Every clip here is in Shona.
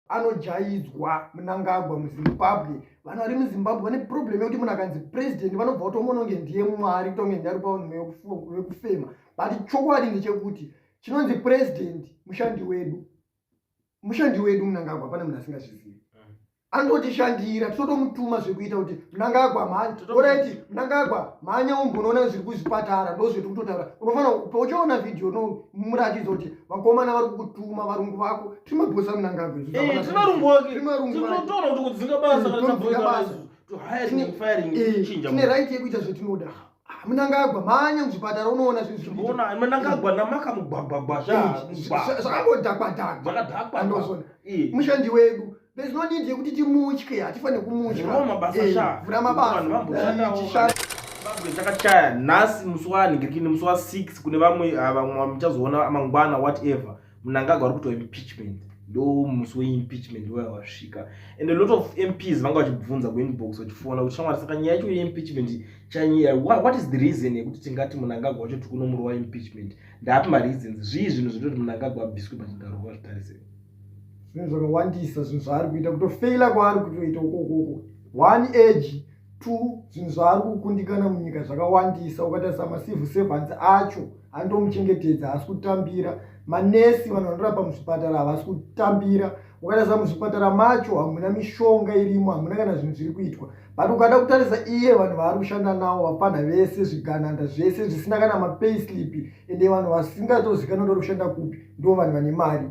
anojaidzwa munangagwa muzimbabwe vanhu vari muzimbabwe vane problem yekuti munhu akanzi president vanobva kutomononge ndiye mwari kutonge ndari pavekufema but chokwadi ndechekuti chinonzi president mushandi wedu mushandi wedu munangagwa pane munhu asingazvizivi mm. anototishandira tinotomutuma zvekuita kuti munangagwa mhanyoraiti munangagwa mhanya umbonoona zviri kuzvipatara ndozvetiri kutotaura unofanira pauchaona vhidhiyo no muratidzo kuti vakomana vari kukutuma varungu vako timabhosa munangagwe eh, timarumboakitotaura kuti kudzinga basa kana tabhosa basa tine right yekuita zvetinoda munangagwa manya muzvipatara unoona zvinhuona munangagwa namaka mugwagwagwazvakangodhakwadhakwaandozona mushandi wedu there's no need yekuti timutye hatifanire kumutyachakachaya nhasi musi waanhingirikini musi wa6 kune vamwe ah, vamwe muchazoona mangwana whatever mnangagwa ari kuitwa impeachment ndo musi weimpeachment waya wasvika and a lot of mps vanga vachibvunza kuinbox vachifona kuti shamwari saka nyaya yacho yeimpeachment chanyaya what is the reason yekuti tingati munangagwa wacho tiri kunomuro waimpeachment ndaapi mareasons zvii zvinhu zvinoti munangagwa abviswe pachigaro kuva zvitarisei zvinhu zvakawandisa zvinhu zvaari kuita kutofeila kwaari kutoita ukokoko one age two zvinhu zvaari kukundikana munyika zvakawandisa ukatarisa macivil servants acho andomuchengetedza haasi kutambira manesi vanhu vanorapa muzvipatara havasi kutambira ukatarisa muzvipatara macho hamuna mishonga irimo hamuna kana zvinhu zviri kuitwa but ukada kutarisa iye vanhu vaari kushanda nawo vapfanha vese zvigananda zvese zvisina kana mapay slip ende vanhu vasingatozikanoti vari kushanda kupi ndo vanhu vane mari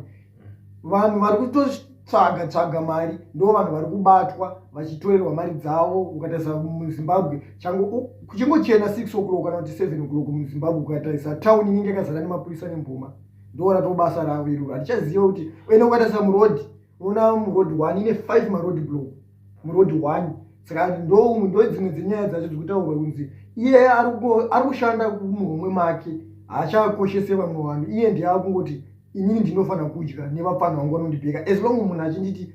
vanhu vari kutotsvaga tsvaga mari ndo vanhu vari kubatwa vachitoerwa mari dzavo ukatarisa muzimbabwe changu kuchingochena six o'clock kana kuti seven o'clock muzimbabwe ukatarisa town inenge yakazara nemapurisa nemboma ndo rato basa ravo iroro hatichaziva kuti ene ukatarisa muroad unoona muroad one ine five maroad block muroad one saka ndoumwe ndo dzimwe dzenyaya dzacho dzikutaurwa kunzi iye ari kushanda kumuhomwe make haachakoshese vamwe vanhu iye ndiye akungoti inini ndinofanira kudya nevapfanha vangu vanondibheka as long munhu achinditi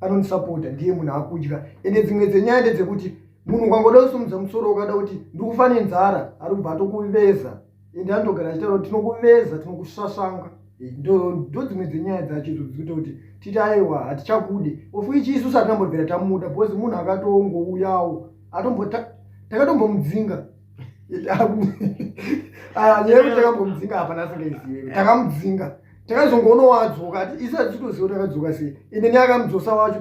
anondisapota ndiye munhu akudya ende dzimwe dzenyaya ndedzekuti munhu ukangoda kusumudza musoro ukada kuti ndikufa nenzara ari kubva atokuveza ende anotogara achitaura kuti tinokuveza tinokusvasvanga eh, ndo dzimwe dzenyaya dzacho idzo dzikuita kuti titi aiwa hatichakude ofu ichi isu satinambobvira tamuda because munhu akatongouyawo atombo takatombomudzinga ah, nyaya yekuti takambomudzinga hapana asingaizive takamudzinga takazongoona wadzoka ati isi atitoziva takadzoka sei ende ne akamudzosa wacho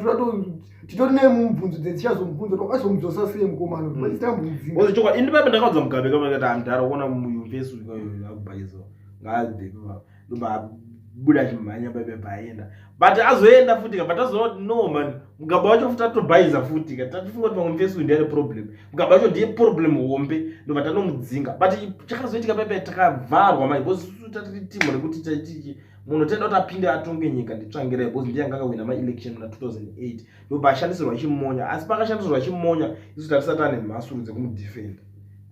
titori nemubvunzo dzetichazomubvunza to akazomudzosa sei mukomano mm. paisitambomudzingaichokwadi indi pape ndakaudza mugabe kamakati andara kuona muyunivhesi uyu akubhaiziwa ngaadhepi vavo ndobabuda chimhanya bebe paenda but azoenda futi ka but azoona kuti no man mugaba wacho futi atobhaiza futi ka tatifunga kuti pamwe mfesi undi ane problem mugaba wacho ndiye problem hombe ndobva tanomudzinga but chakazoitika bebe takavharwa mai bcause susu tatiri timu rekuti taitiki munhu tenda kuti apinde atonge nyika nditsvangire bcause ndiye anga akawina maelection muna 2008 ndobva ashandisirwa chimonya asi pakashandisirwa chimonya isu tatisati ane mhasuru dzekumudefenda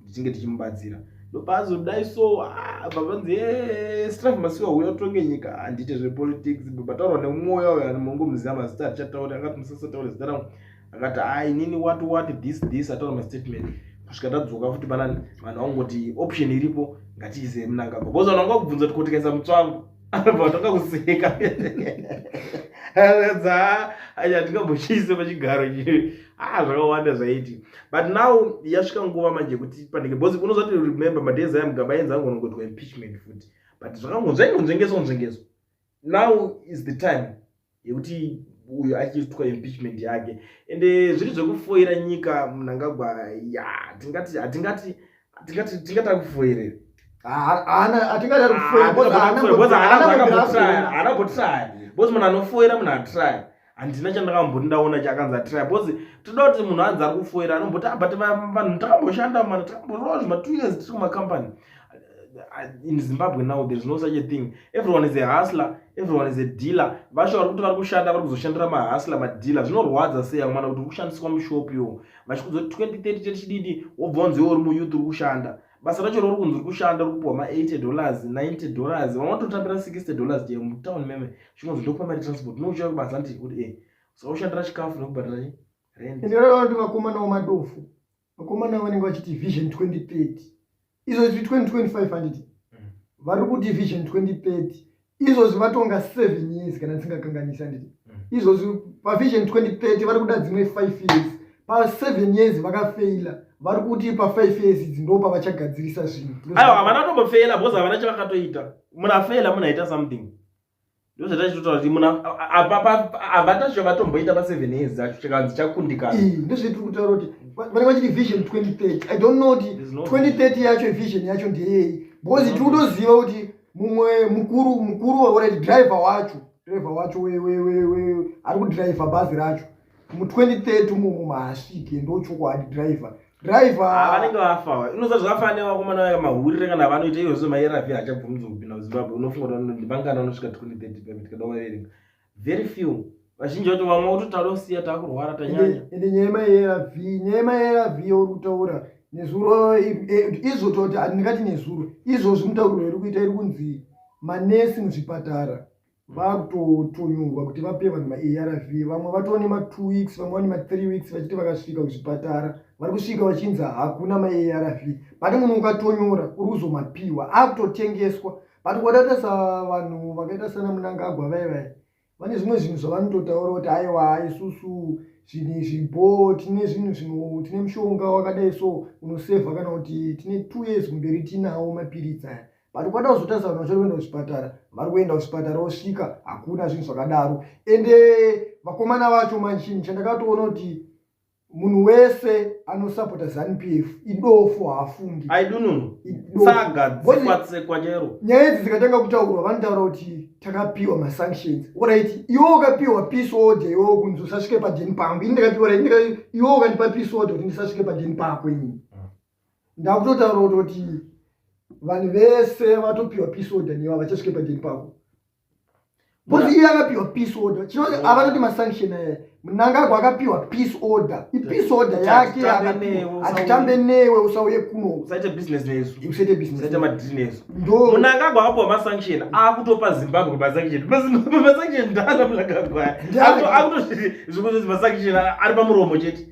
ndichinge tichimubatsira ndopazodai so ah, babanzi eh, strafe masiwa uya utonge nyika handite ah, zvepolitics bataurwa nemwoya uyo anongomuziva mazita atichatauri akati musasataure zita rangu akati a ah, inini wati wati this this ataura mastatement kusvika tadzoka futi panani vanhu vangoti option iripo ngatiise munangagwa bcause vanhu vanga kubvunza tikotikaisa mutswangu anobva atanga kuseka aratidza achatingambochiise pachigaro chii ah zvakawanda zvaiti but now yasvika nguva manje kuti panenge bcause unozvati remember madays aya mugaba ainzi angonongotwa impeachment futi but zvakangonzvaingonzvengeswa nzvengeswa now is the time yekuti uyo achiitwa impeachment yake ende zviri zvekufoira nyika munangagwa ya tingati hatingati tingati tingati akufoirei bcoz munhu anofoira munhu atry handina chandakamboti ndaona chakanzi atry bcoz toda kuti munhu anzi ari kufoira anomboti abut ah, vanhu takamboshanda mana takamboroa zvima two years tiri kumacompany in zimbabwe now there is no such a thing everyone is a hustler everyone is a dealer vasho vari kuti vari kushanda vari kuzoshandira mahustler madealer zvinorwadza sei amwana kuti uri kushandiswa mushop yo vachikuzoti 2030 chechididi wobva wanzi iwe uri muyouth uri kushanda basa racho rauri kunzi uri kushanda uri kupiwa ma80 dollars 90 dollars vamwe vatotambira 60 dollars chaiyo mutown meme chinonzi ndokupa mari transport nouchaya kubasa nditi kuti e eh, so ushandira chikafu nekubhadhara rent ndinoona kuti vakomanawo madofu vakomana vanenge vachiti vision 2030 izvozvi 2025 handiti mm. vari kuti vision 2030 izvozvi vatonga seven years kana ndisingakanganisi handiti mm. izvozvi pavision 2030 vari kuda dzimwe five years paseven years vakafeila vari kuti pafive years idzi ndo pavachagadzirisa zvinhu aiwa havana tombofeila bcause havana chavakatoita munafeila munaita something ndozvatachitotaura kuti munhu avatacho vatomboita paseven years acho chikanzi chakundikana ndozve tiri kutaura kuti vanenge vachiti vision 2030 i don't know kuti 2030 yacho vision yacho ndeyei because tiri kutoziva kuti mumwe mukuru mukuru waurati driver wacho driver wacho ari kudriver bhazi racho mu 2030 mumu maasviki ndochokwadi driver driver ah, vanenge vafa inoza zvakafa ne vakomana vaya mahurire kana vanoita iyo zve maeravi achabvumidza kupinda muzimbabwe unofunga kuti vanoti vangana vanosvika 2030 pamiti kada vaverenga very few vazhinji vacho vamwe vototaura kusiya takurwara tanyanya ende nyaya yemaerav nyaya yemaerav yauri kutaura nezuro eh, izvo toti ndingati nezuro izvozvi mutauriro iri kuita iri kunzi manesi muzvipatara vakutotunyurwa kuti vape vanhu maarv vamwe vatova nema2 weeks vamwe vane ma3 weeks vachiti vakasvika kuzvipatara vari kusvika vachinzi hakuna maarv pane munhu ukatonyora uri kuzomapiwa akutotengeswa but kwadaita savanhu vakaita sana munangagwa vai vai vane zvimwe zvinhu zvavanototaura kuti aiwa isusu zvinhu izvi bo tine zvinhu zvino tine mushonga wakadai so unosevha kana kuti tine two years kumberi tinawo mapiritsi aya but kwada kuzotarisa vanhu vachari kuenda kuchipatara vari kuenda kuchipatara vosvika hakuna zvinhu zvakadaro ende vakomana vacho manchinhu chandakatoona kuti munhu wese anosapota zanupf idofo haafungi aidununusagadzikwatsekwanyero nyaya idzi dzikatanga kutaurwa vanotaura kuti takapiwa masanctions orit iwo ukapiwa peace order iwo kunzi usasvike pajeni pangu ini ndakapiwa iwo ukandipa peace order kuti ndisasvike pajeni pako inini ndakutotaura kutoti vanhu vese vatopiwa peace order newa vachasvike pajeri pavo bcause iye akapiwa peace order chinoti avanoti masanction aya munangagwa akapiwa peace order ipeace order yake hatitambe newe usauye kunousaiite businessmunangagwa akapiwa masanction akutopa zimbabwe masanction masanction ndana munangagwa akutozvikuti masanction ari pamuromo chete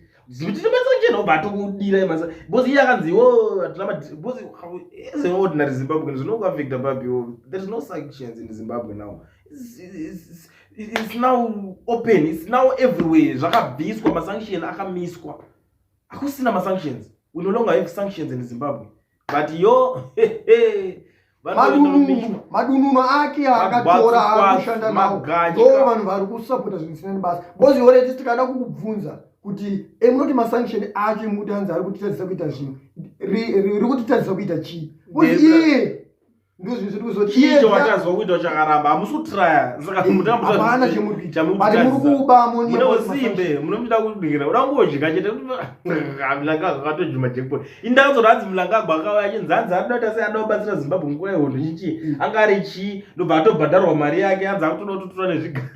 ordinary zimbabwean zvinokuaffecta papi there is no sanctions in zimbabwe now it's, it's, it's now open it's now everywhere zvakabviswa masanction akamiswa akusina masanctions we no longer have sanctions in zimbabwe but yo madununo ake akatora akushanda nawo ndo vanhu vari kusapota zvinhu zvisina nebasa bcoz yore tisi tikada kukubvunza kuti emunoti eh, masanction acho emuti anzi ari kutitadzisa kuita zvinhu ri kutitadzisa kuita chii bcoz iye chii chawatadzwa kuita chakaramba hamusi kutraya saka mutambuhapana chemurimukubamuneosimbe munomuchida kudingira uda kungodya chete mlangagwa akatojima jekpot indazoda hanzi mlangagwa akauya achinzi hanzi anoita sei anoda kubatsira zimbabwe nguva yehondo chichii mm. anga ari chii ndobva atobhadharwa mari yake hanzi akutoda kutotora nezvigaro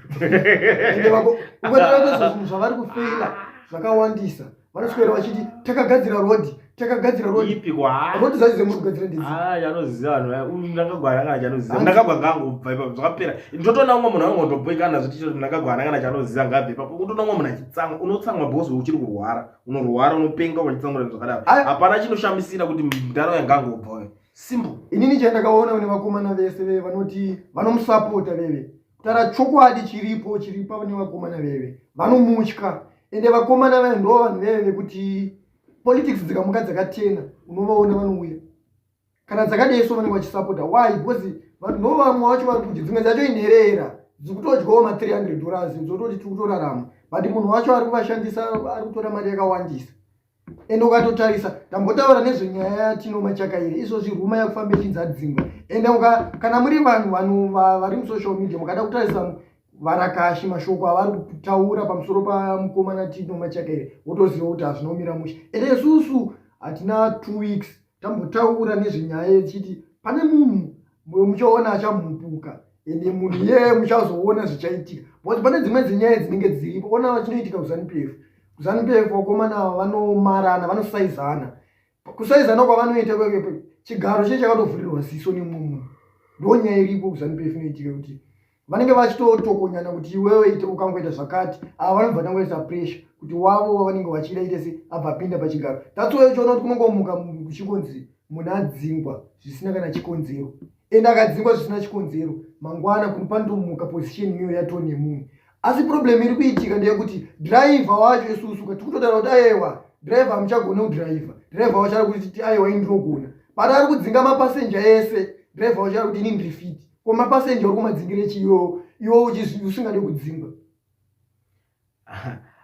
zvavari kufeila zvakawandisa vanoswera vachiti takagadzira rhodhi takagadzira rhodhirodhi zvaizve muri kugadzira ndianoziva ah, vanhu ndakagwara kana chanoziva ndakagwa ngangobva ipapo zvakapera ndotoona umwe munhu angondoboikana zviti choti ndakagwara kana chanoziva ngabve ipapo unotoona umwe munhu achitsamwa unotsamwa bhozi uchiri kurwara unorwara unopenga wachitsamura zvakadaro hapana chinoshamisira kuti mdaro yangangobva simple inini chandakaona une vakomana vese veve vanoti vanomusapota veve kutara chokwadi chiripo chiripa vane vakomana veve vanomutya ende vakomana vaye ndo vanhu veve vekuti politics dzikamuka dzakatena unovaona vanouya kana dzakadei so vanenge vachisapota why because vanhu ndo vamwe vacho vari kuti dzimwe dzacho inherera dzikutodyawo ma 300 dollars dzototi tiri kutorarama but munhu wacho ari kuvashandisa ari kutora mari yakawandisa ende ukatotarisa tambotaura nezvenyaya yatino machakaire izvozvi ruma yakufamba ichidzadzingwa ende kana muri vanhu vanhu vari musocial media mukada kutarisa varakashi mashoko avari kutaura pamusoro pamukomana tino machakaire wotoziva kuti hazvinomira mushe ende isusu hatina two weeks tambotaura nezvenyaya yechiti pane munhu muchaona achamhupuka ende munhu iyeye muchazoona zvichaitika but pane dzimwe dzenyaya dzinenge dziripo ona vachinoitika kuzanupf kuzanupf vakomana ava vanomarana vanosaizana kusaizana kwavanoita kwekepe chigaro chee chakatovhurirwa ziso nemumwe ndonyaya iripo kuzanupf inoitika kuti vanenge vachitotokonyana kuti iwewe ite ukangoita zvakati ava vanobva tangoisa pressure kuti wavo wavanenge vachida ite se abva apinda pachigaro tatsoyo choona kuti kunongomuka kuchikonzi munhu adzingwa zvisina kana chikonzero ende akadzingwa zvisina chikonzero mangwana kuri panotomuka position iyo yato nemunhu asi problem iri kuitika ndeyekuti driver wacho isusu ka tikutotaura kuti ayewa driver amuchagone kudriver driver wacho ari kuti ayewa ini ndinogona but ari kudzinga mapasenja ese driver wacho ari kuti ini ndiri fiti ko mapasenja uri kumadzingire chi iwo iwo usingade kudzingwa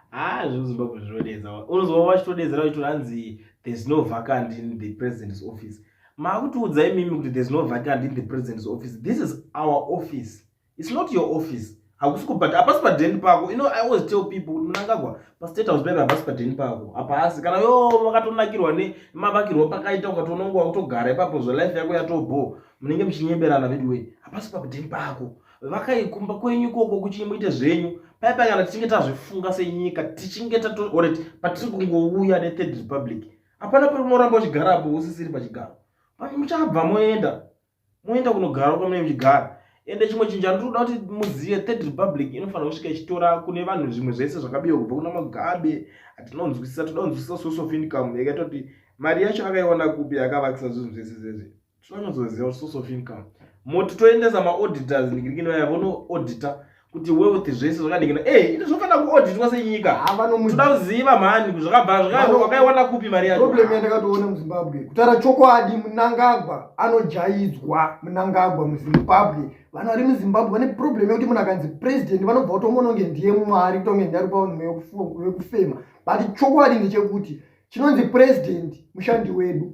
haa zvekuzimbabwe zvinodedza unozova vachitodedzera vachitoti hanzi there's no vacant in the president's office maakutiudza imimi kuti there's no vacant in the president's office this is our office it's not your office hakusi kubhata hapasi padheni pako ino i always tell people kuti munangagwa pastate house paive hapasi padheni pako hapasi kana yo makatonakirwa nemavakirwo pakaita ukatoona nguva kutogara ipapo zvelife yako yatobho munenge muchinyeberana veduway hapasi padheni pako vakaikumba kwenyu ikoko kuchinyi muite zvenyu paipa kana tichinge tazvifunga senyika tichinge tatooreti patiri kungouya nethird republic hapana pari unoramba uchigarapo usisiri pachigaro muchabva moenda moenda kunogara kwamunenge muchigara ende chimwe chinhu chandinoda kuti muzive third republic inofanira kusvika ichitora kune vanhu zvimwe zvese zvakabiwa kubva kuna magabe hatinonzwisisa toda kunzwisisa source of income yakaita kuti mari yacho akaiwana kupi akavakisa zvinhu zvese zvese toda kunzwisisa source of income moti toendesa maauditors ndikirikinoya vonoaudita kuti wealth zvese zvakadikana e eh, ini zvofanira kuoditwa senyika toda kuziva mhani zvakabva zvakaiwana kupi mari yacho problem yandakatoona muzimbabwe kutaura chokwadi munangagwa anojaidzwa munangagwa muzimbabwe vanhu vari muzimbabwe vane problem yekuti munhu akanzi president vanobva kutomononge ndiye mwari kutonge ndiye ari pavanhu vekufema but chokwadi ndechekuti chinonzi president mushandi wedu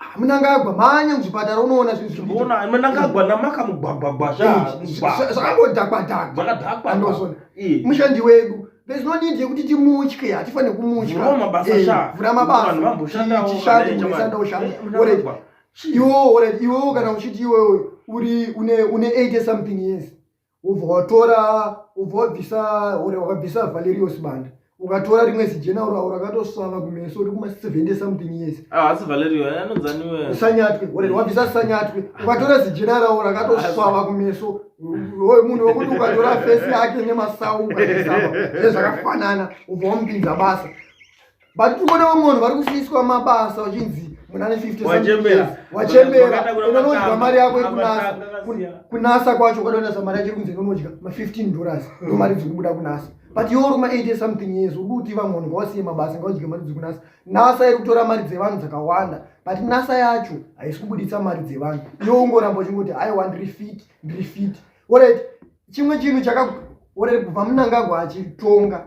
Ah, munangagwa manya muzvipatara unoona zvinhuona munangagwa namaka mugwagwagwa zvaangodhakwadhakwaandoona mushandi wedu there's no need yekuti timutye hatifanire kumutya vhura mabasashandaoshandaoshandaoshanda iwewo kana uchiti iwewe uri une 8 something years ubva watora ubva wabvisa ore wakabvisa valerio sibanda ukatora rimwe zijena urawo rakatosvava kumeso uri kuma 70 something years haasi ah, valerio eh, anonzaniwe sanyatwe ore wabvisa sanyatwe ukatora zijena rawo rakatosvava kumeso oyo munhu wekuti ukatora fesi yake nemasau ukaisaa ezvakafanana ubva wamupinza basa but tiri kuona vamwe vanhu vari kusiiswa mabasa vachinzi muna ne 50 wachembera wachembera unonodya mari yako iri kunasa kunasa kwacho ukatonasa mari yacho iri kunzi inonodya ma 15 dollars ndo mari dziri kubuda kunasa but iwe uri ma 80 something years uri kuti vamwe vanhu ngavasiye mabasa ngavadye mari dziri kunasa nasa iri kutora mari dzevanhu dzakawanda but nasa yacho haisi kubuditsa mari dzevanhu iwe ungoramba uchingoti aiwa ndiri fit ndiri fit orit chimwe chinhu chaka orit kubva munangagwa achitonga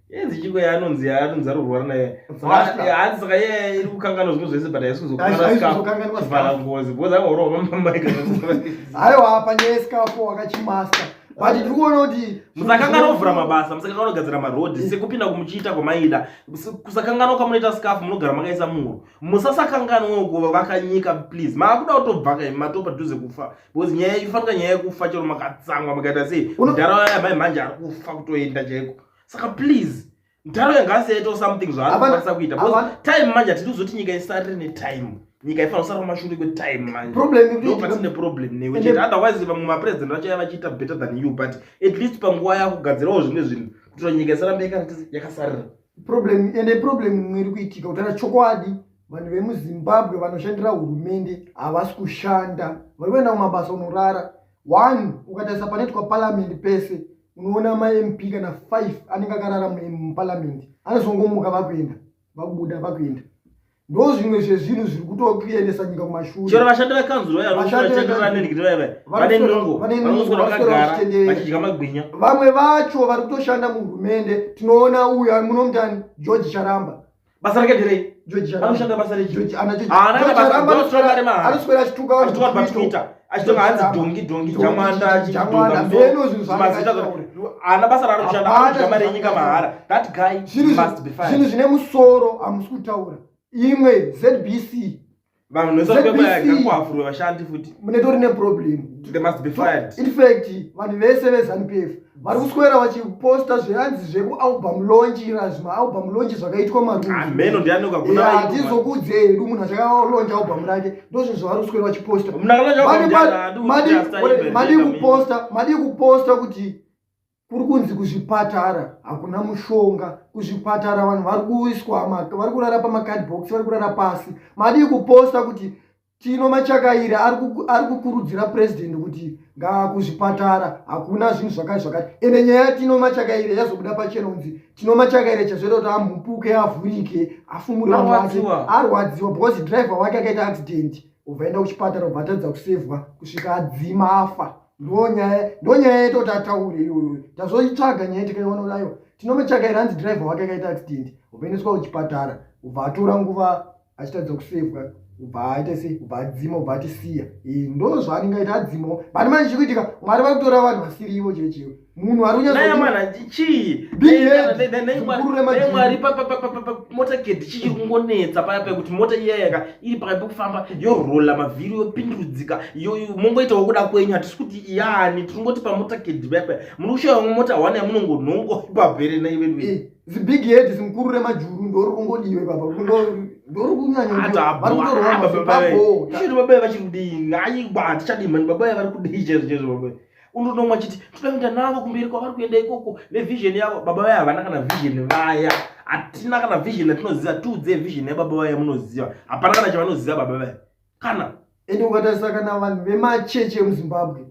yenzi chiko yaanonzi yaanonzi ari kurwara naye hanzi saka ye iri kukanganwa zvinhu zvese but haisi kuzokuaavhala ngozi bhozi angaurova pamamaika haiwa panyaya yesikapo wakachimaster but tiri kuona kuti musakanganwa kuvhura mabasa musakanganwa kugadzira maroad eh. sekupinda kumuchiita kwamaida kusakanganwa kwamunoita scafu munogara makaisa muro musasakanganwawo kuvaka nyika please maakuda kutobva kai mato padhuze kufa because nyaya ifanika nyaya yekufa chero makatsamwa makaita sei mudhara waya mai mhanje ari kufa kutoenda chaiko saka please ntaro yanga asiyaitawo something zvaanokwanisa kuita because time manje hatidi kuzoti nyika isarire netime nyika ifanira kusara kumashure kwetime manjendopatsine problem newe chete otherwise vamwe mapresident vacho yavachiita better than you but at least panguva yakugadzirawo zvimwe zvinhu kutira nyika isarambe yakasarira problem ende problem imwe iri kuitika kutaura chokwadi vanhu vemuzimbabwe vanoshandira hurumende havasi kushanda vari kuenda kumabasa unorara one ukatarisa panoitwa paramend pese unoona mamp kana five anenge akarara muparliament anozongomuka vakuenda vakubuda vakuenda ndo zvimwe zvezvinhu zviri kutokuendesa nyika kumashure chero vashandi vekanzuro vachidya magwinya vamwe vacho vari kutoshanda muhurumende tinoona uyu munomutani george charamba basa rake nderei anoshanda basa rejianoswera achituka vanhu patwitter achitonga hanzi dhongi dhongi jamanda ana basa raaroshandaama renyika mahara that guy must be fine zvinhu zvine musoro hamusi kutaura imwe zbc vanhu vese vakabaya kwaafurwe vashandi futi munetori ne problem they must be fired in fact vanhu vese ve zanupf vari kuswera vachiposta zviranzi zveku album launch ira zvima album launch zvakaitwa marumeno ah, ndianoka kuna hatizokudze hedu munhu achakalaunch album rake ndozvo zvavari kuswera vachiposta madi kuposta madi kuposta kuti kuri kunzi kuzvipatara hakuna mushonga kuzvipatara vanhu vari kuiswa vari kurara pamacard box vari kurara pasi madii kuposta kuti tino machakairi ari kukurudzira purezidenti kuti ngaa kuzvipatara hakuna zvinhu zvakati zvakati ende nyaya yatino machakairi yazobuda pachena kunzi tino machakairi chazoita kuti amhupuke avhurike afumure vanhu vake arwadziwa because driver wake akaita accident obva enda kuchipatara obva atadza kusevhwa kusvika adzima afa ndonyaya ndonyaya yeto tataure iyoyo tazoitsvaga nyaya tikaiona kudaiwo tinomutsvaga iri hanzi driver wake akaita accident upeneswa kuchipatara ubva atora nguva achitadza kusevwa ubva aita sei ubva adzima ubva atisiya ndo zvaanenge aita adzimo but manje chikuitika mwari vakutora vanhu vasiri ivo chero chero munhu ari kunyatsokururemwari motakedi chichiri kungonetsa paya pekuti mota iyayaka iri pakati pekufamba yorola mavhiri yopindurudzika mongoitawo kuda kwenyu hatisi kuti yani tiri ngoti pamotakedi paya paya muri kushaya vamwe mota hwana yamunongonhongo ipapo here naivedu zibig head zimukurure majuru ndori kungodiwe papa ndori kunyanyaaababe vachiri kudii ngai batichadii mani babaye vari kudii chezvo chezvo babaye unonomwa chiti toda kuenda navo kumberi kwavari kuenda ikoko nevision yavo baba vaya havana kana vision vaya hatina kana vision yatinoziva tiudze vision yababa vaya munoziva hapana kana chavanoziva baba vaya kana ende ukatarisa kana vanhu vemachechi emuzimbabwe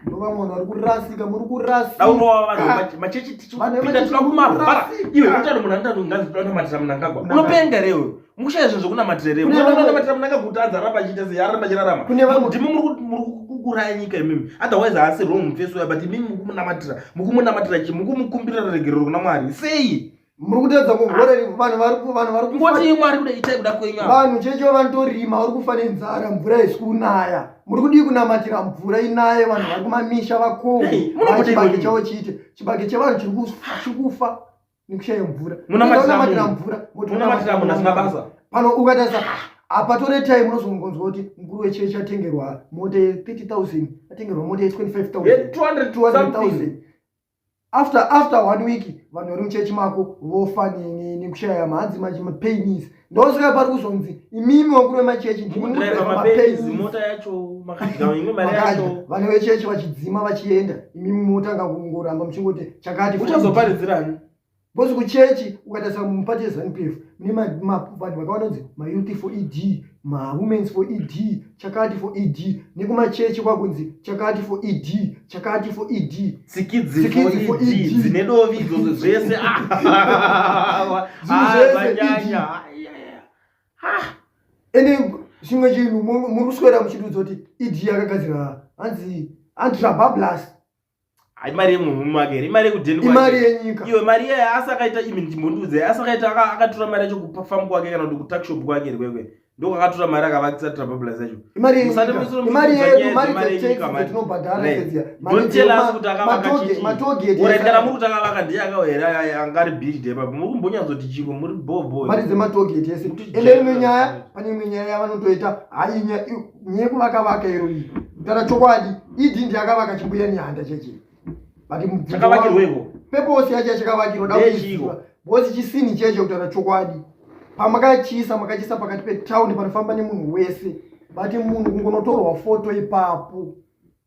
ndova munhu ari kurasika muri kurasikaaunovavanhumachechi tichipinda tinoda kumavara iwe utano munhu anotanonganzi tinonamatisa munangagwa unopenga rewe mukushaya zvinhu zvokunamatira here mwana anonamatira munanga kuti adzaramba achiita sei aramba achirarama ndimi muri kukuraya nyika imimi otherwise haasi wrong mufesi uya but imimi mukumunamatira mukumunamatira chi mukumukumbirira regerero kuna mwari sei muri kutadza kuhoreri vanhu varivanhu vari kungoti mwari kuda itai kuda kwenyu vanhu checho vanotorima vari kufa nenzara mvura haisi kunaya muri kudii kunamatira mvura inaye vanhu vari kumamisha vakohwe chibage chavo chiite chibage chevanhu chiri kufa nekushaya mvura munamatira mvura munamatira munhu asina basa pano ukatarisa hapatore time unozongonzwa kuti mukuru wechechi atengerwa mota ye 30000 atengerwa mota ye 25000 after after one week vanhu vari muchechi mako vofa nekushaya mahanzi manje mapainis ndosvika pari kuzonzi imimi wakuru vemachechi ndimudrivamota yacho vane vechechi vachidzima vachienda imimi motanga kungoramba muchingoti chakati uchazoparidzirani bcoz kuchechi ukatarisa mupati yezanup f mune mavanhu vakaona kunzi mayouth for ed mawomens for ed chakati for ed nekumachechi kwakunzi chakati for ed chakati for ed tsikidzi for ed e dzine dovi idzodzo zvese zvanyanya ende chimwe chinhu muri kuswera muchitiudza kuti ed yakagadzira hanzi antirabablas imari yemunhu make here imari yekudenimari yenyika iyo mari iye asi akaita imi ndimbondiudze asi akaita akatora mari yacho kupafamu kwake kana kuti kutakshop kwake here kwekwe ndokwakatora mari akavakisa trabablas yacho imariyedumaritelakutakavakachiiorendana muri kuti akavaka ndiye akawa here angari bid epa muri kumbonyatsoti chiko muri boboari dzematogeti ese ende imwe nyaya pane imwe nyaya yavanotoita hainya nyeku vakavaka iro iyi kutara chokwadi idi ndi akavaka chimbuya nyanda cheche peposi yacho yachakavakirwa da kuiziva bhozi chisini cheche kutara chokwadi pamakachiisa makachiisa pakati petown panofamba nemunhu wese but munhu kungonotorwa foto ipapo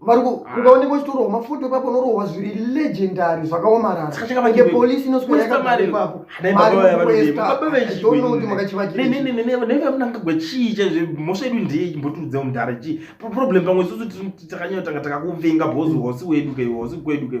mariko ah. ungaoneka uchitorohwa mafoto ipapo unorohwa zviri legendary zvakaomararaye polisi inosweraaapapoaonoti makachivakirnevamnangagwa chii chaizve mhosva yedu ndeye imbotiudza mudhara chii problem pamwe isusu takanyotanga takakuvenga bhozi hosi wedu kei hosi kwedu kei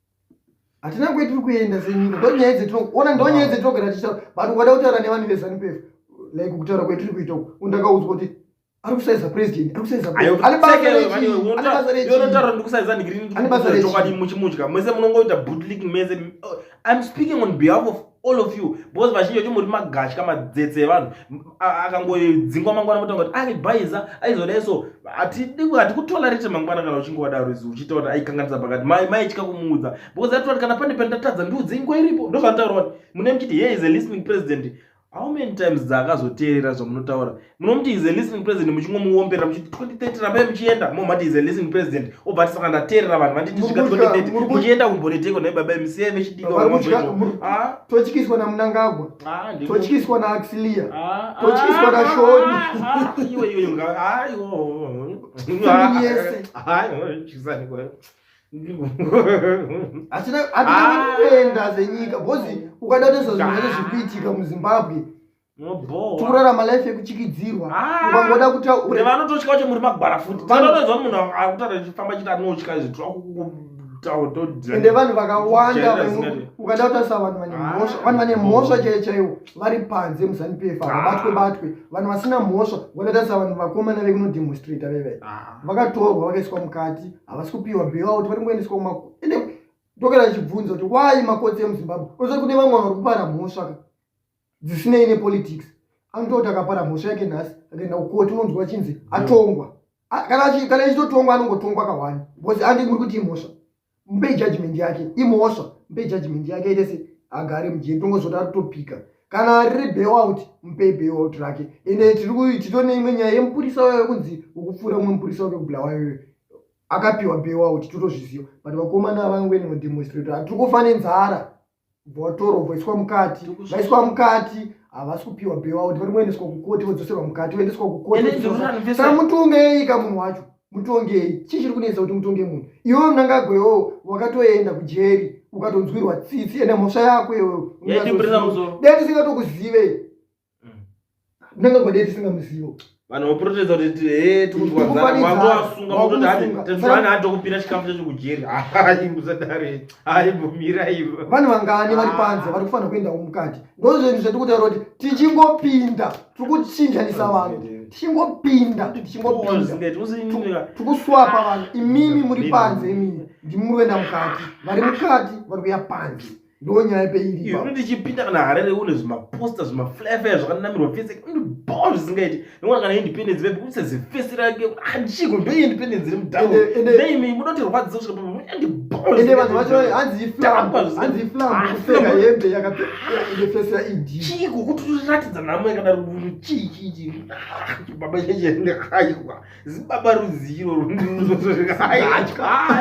hatina kwe tiri kuenda senyika ndonyaya dzetinoona ndonyaya dzetinogara tichitaura but ukada kutaura nevanhu vezanupefu like kutaura kwetiri kuita uku ndakaudzwa kuti ari kusaiza president ari kusaiza presidentanotaura ndikusaiza ndigirinichokwadi muchimudya mese munongoita bootlik mese oh, im speaking on behalf of all of you because vazhinji vacho muri magatya madzetse evanhu akangodzingwa mangwana motanga kuti ari bhaiza aizodai so hatikutolarete mangwana kana uchinge wadaro izi uchiita kuti aikanganisa pakati mai maitya kumuudza because atoti kana pane pandatadza ndiudze ingo iripo ndozvanotaura kuti mune muchiti here is a listening president how many times dzaakazoteerera zvamunotaura munomuti is a listening president muchingomuombera muchiti 2030 rambai muchienda momati is a listening president obva tisaka ndateerera vanhu vanditi svika 2030 muchienda kumboneteko nai baba misiye vechidikatotyiswa ah. namunangagwa ah, totyiswa naaxilia ah, totyiswa nashoni hatina kuenda zenyika bcause ukada nezvazvinenge zvikuitika muzimbabwe tikurarama life yekuchikidzirwa ah, ukangoda kutaurvanototya kuti muri magwara futi vanotoziva munhu akutara chifamba chiti anotya zviende vanhu vakawanda ukada kutarisa vanhu vane ah. mhosva vanhu vane mhosva chaiyo chaiwo vari panze muzanup f vabatwe ah. batwe vanhu vasina mhosva vanotarisa vanhu vakomana vekunodemonstrata veve vakatorwa vakaiswa mukati havasi kupiwa bailout vari kungoendeswa kuma ende ndokera chibvunzo kuti wai makotsi emuzimbabwe osa kune vamwe vari kupara mhosva ka dzisinei nepolitics anototi akapara mhosva yake nhasi akaenda kukoti unonzwa chinzi atongwa kana ichitotongwa anongotongwa kahwani because andi muri kuti imhosva mupei judgment yake imhosva mupei judgment yake aite se agare mujeri tongozoti ari kutopika kana riri bailout mupei bailout rake ende titone imwe nyaya yemupurisa wayo kunzi ukupfuura umwe mupurisa wake kubulawayoyo akapiwa bailout totozviziva but vakomana avangweni mudemonstrator hatiri kufa nenzara votorwa voiswa mukati vaiswa mukati havasi kupiwa bewa kuti vari moendeswa kukoti vodzoserwa mukati voendeswa kukotisaka mutongei ka munhu wacho mutongei chii chiri kunetsa kuti mutonge munhu iwe mnangagoyowo wakatoenda kujeri ukatonzwirwa tsitsi ende mhosva yako iyoyo dai tisingatokuzive ndanga kwadei tisingamuzivo vanhu voprotesta kuti he tikunzwaaasunga kutoti hati tezvana hatokupira chikafu chacho kujeri hayi musadare hayi bvumirai vanhu vangani vari panze vari kufanira kuendawo mukati ndozvinhu zvatiri kutaura kuti tichingopinda tiri kuchinjanisa vanhu tichingopinda tikuswapa vanhu imimi muri panze imimi ndimuri kuenda mukati vari mukati vari kuya panze ndonyaya peiri ipapo ndichipinda kana harere une zvimaposter zvimaflafaya zvakanamirwa fese ndiboo zvisingaiti ndinoona kana independence vepi kuse zifesi rake achiko ndo independence iri mudaimi munoti rwadziso svika papo ndibooende vanhu vacho hanzi iflamhanzi iflamupfeka hembe yakapfesa idi chiko kuti uratidza nhamo yakadaro chii chii chii baba chaichende aiwa zibaba rudziro rundiuzozoaitya